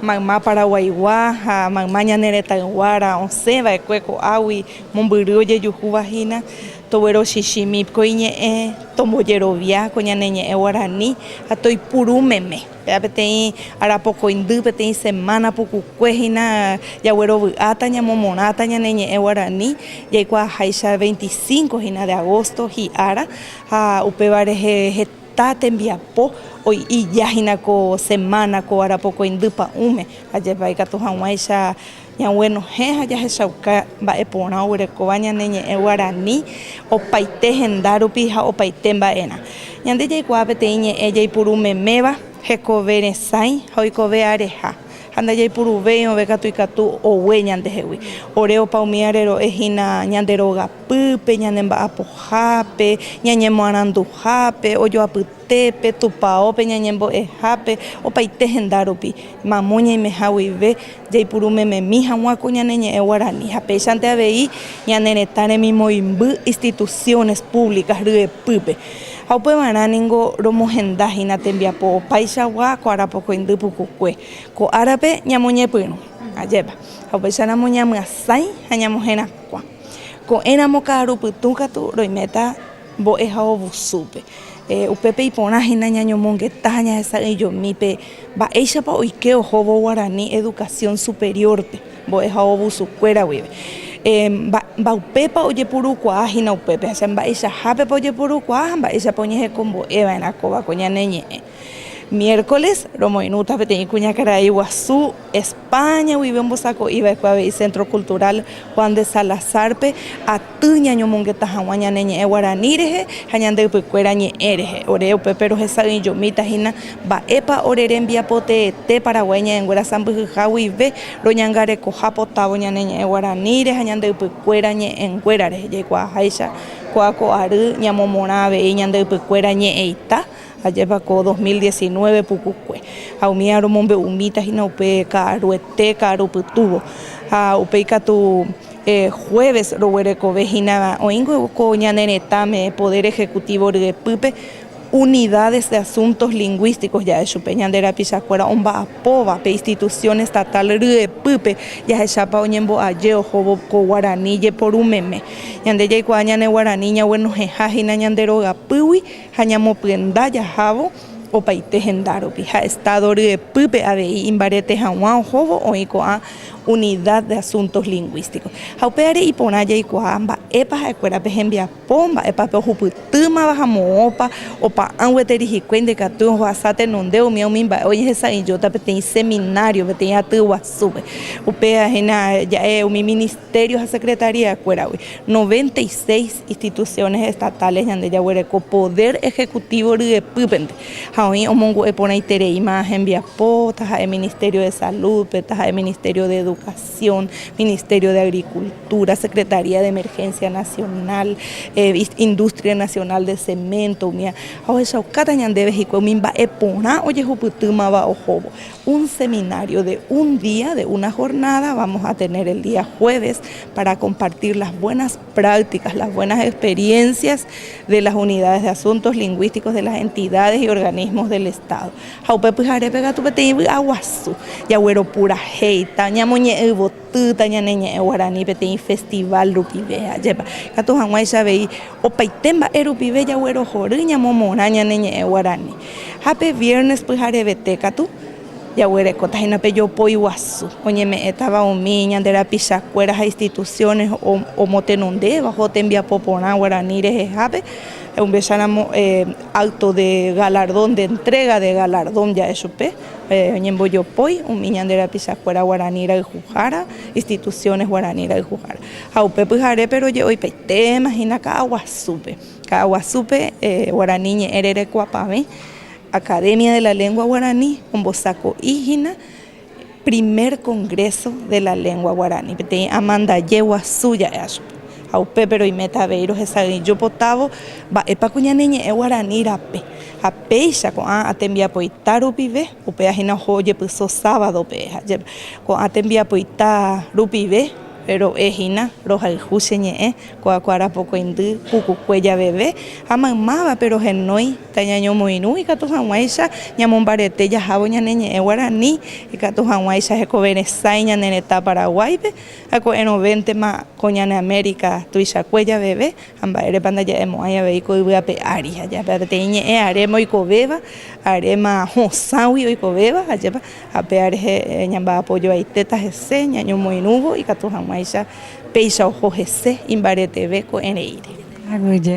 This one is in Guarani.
Mayma Paraguaigua ha mayma ñane retãyguára osẽ vaekue ko'águi mombyry ojejuhúva hína, toguerochichi mip ko iñe'ẽ, tombojerovia ko ñane ñe'ẽ guarani ha toipuru meme. Péva peteĩ arapokoindy, peteĩ semana pukukue hína jaguerovy'áta, ñamomorãta ñane ñe'ẽ guarani, jaikuaaháicha veinticinco hína de agosto hi'ára ha upéva rehe heta. Ta tembiapo oi'i ja hina ko semana ko ara pokoi ndy pa'ũme, ajépa ikatu haguãicha ñaguenohẽ ha jahechauka mba'e porã oguerekóva ñane ñe'ẽ guarani opaite henda rupi ha opaite mba'erã. Ñande jaikuaa peteĩ ñe'ẽ jaipuru meméva, hekove resãi ha oikove areha, ha ndajaipuruvéi ove katu ikatu ogue ñandehegui. Ore opa umi arero'e hina ñande rogape. Pype, ñanemba'apohápe, ñañemoaranduhápe, ojoapytépe, tupaópe, ñañembo'ehápe, opaite henda rupi, mamo ñaimeha guive, jaipuru mememi hag̃ua ko ñane ñe'ẽ guarani ha péichante avei ñane retã remimoĩmby instituciones públicas ryepýpe. Ha upévarã ningo romohenda hína tembiapo opaichagua ko arapokõindy pukukue. Ko árape ñamoñepyrũ, ajépa. Ha upéicharamo ñamyasãi ha ñamoherakuã. Ko'ẽramo ka'aru pytũ katu roiméta mbo'eha ovusúpe. Upépe iporã hína ñañomongeta ha ñahesa'ỹijomi pe mba'éichapa oike ohóvo Guarani Educación Superior-pe mbo'eha ovusukuéra guive. Mba'upépa ojepurukuaa hína upépe, mba'eichahápepa ojepurukuaa ha mba'éichapa oñehekombo'eva'erã kóva ko ñane ñe'ẽ. Miércoles romoirũta peteĩ kuñakarai guasu España guive ombosako'i va'ekue avei Centro Cultural Juan de Salazar-pe aty ñañomongeta hag̃ua ñane ñe'ẽ guarani rehe ha ñande ypykuéra ñe'ẽ rehe. Ore upépe rohesa'ỹijomíta hína mba'épa ore rembiapo teete Paraguái ñe'ẽnguéra sãmbyhyha guive roñangarekoha potávo ñane ñe'ẽ guaraníre ha ñande ypykuéra ñe'ẽnguéra rehe. Jaikuaaháicha ko'áko ary ñamomorã avei ñande ypykuéra ñe'ẽita. Ajépa ko dos mil diecinueve pukukue ha umi ára omombe'umíta hína upe ka'aruete, ka'aru pytúvo. Ha upéi katu jueves roguerekove hína oĩngue ko ñane retãme poder ejecutivo ryepýpe unidades de asuntos lingüísticos ja'e chupe ñande rapichakuéra omba'apóva pe institución estatal ryepýpe jahechápa oñembo'aje ohóvo ko guarani jeporu meme. Ñande jaikuaa ñane guarani ñaguenohẽha hína ñande rogapýgui. ha ñamopyenda jahávo opaite hendárupi ha Estado ryepýpe avei imbarete hag̃ua ohóvo oĩ ko'ã Unidad de Asuntos Lingüísticos. Ha upévare iporã jaikuaa mba'épa ha'ekuéra pe hembiapo, mba'épa pe ohupytýmava ha moõpa opa'ã gueteri hikuái ndaikatúi ojohasa tenonde umi umi mba'e ojehesa'ỹijóta peteĩ seminario peteĩ aty guasúpe. Upéva hína ja'e umi Ministerio ha Secretaría-kuéragui, noventa y seis. Instituciones estatales ñande jaguereko poder ejecutivo ryepýpente ha oĩ omongu'e porãitereíma hembiapo, taha'e Ministerio de Salud-pe, taha'e Ministerio de Educación, Ministerio de Agricultura, Secretaría de Emergencia Nacional, Industria Nacional de Cemento umíva, ha ohechaukáta ñandéve hikuái umi mba'e porã ojehupytýmava ohóvo. Un seminario de un día, de una jornada, vamos a tener el día jueves para compartir las buenas. prácticas, las buenas experiencias de las unidades de asuntos lingüísticos de las entidades y organismos del Estado. Ha upe pyharépe katu peteĩ vy'a guasu jagueropurahéita, ñamoñe'ẽivotýta ñane ñe'ẽ guarani peteĩ festival rupive, ajépa katu hag̃uáicha avei opaite mba'e rupive jaguerohory ñamomorã ñane ñe'ẽ guarani. Ha pe viernes pyharevete katu Jaguerekóta hína pe jopói guasu oñeme'ẽtava umi ñande rapichakuéra ha instituciones omotenondévaho tembiapo porã guarani rehehápe, umbicharamo acto de galardón, de entrega de galardón ja'e chupe, oñembojopói umi ñande rapichakuéra guarani rayhuhára, instituciones guarani rayhuhára. Ha upe pyharépe roje'oipaitéma hína ka'aguasúpe, ka'aguasúpe guarani ñe'ẽ rerekuapavẽ. Academia de la Lengua Guarani ombosako'i hína Primer Congreso de la Lengua Guarani, peteĩ amandaje guasu ja'e acho. Ha upépe roiméta avei rohesa'ỹijo potávo mba'épa ko ñane ñe'ẽ guarani rape. Ha péicha ko'ã tembiapoita rupive, upéva hína oho ojepyso sábadope, ko'ã tembiapoita rupive, Ro'e hína, rohayhu che ñe'ẽ, ko'akuára pokõindy, pukukue javeve, ha maymávape rohenói, tañañomoirũ ikatu hag̃uáicha ñamombarete jahávo ñane ñe'ẽ guarani, ikatu hag̃uáicha hekoveresãi ñane retã Paraguáipe, ha ko'ẽrõvéntema ko ñane Amérika tuichakue javeve, ha mba'érepa ndaja'emo'ãi avei ko yvy ape ári, ajépa peteĩ ñe'ẽ aréma oikovéva, aréma hosãgui oikovéva, ajépa Ha péa rehe ñamba'apojoaitéta hese ñañomoirũvo ikatu hag̃uáicha péicha oho hese imbareteve ko'ẽreíre. Aguyje.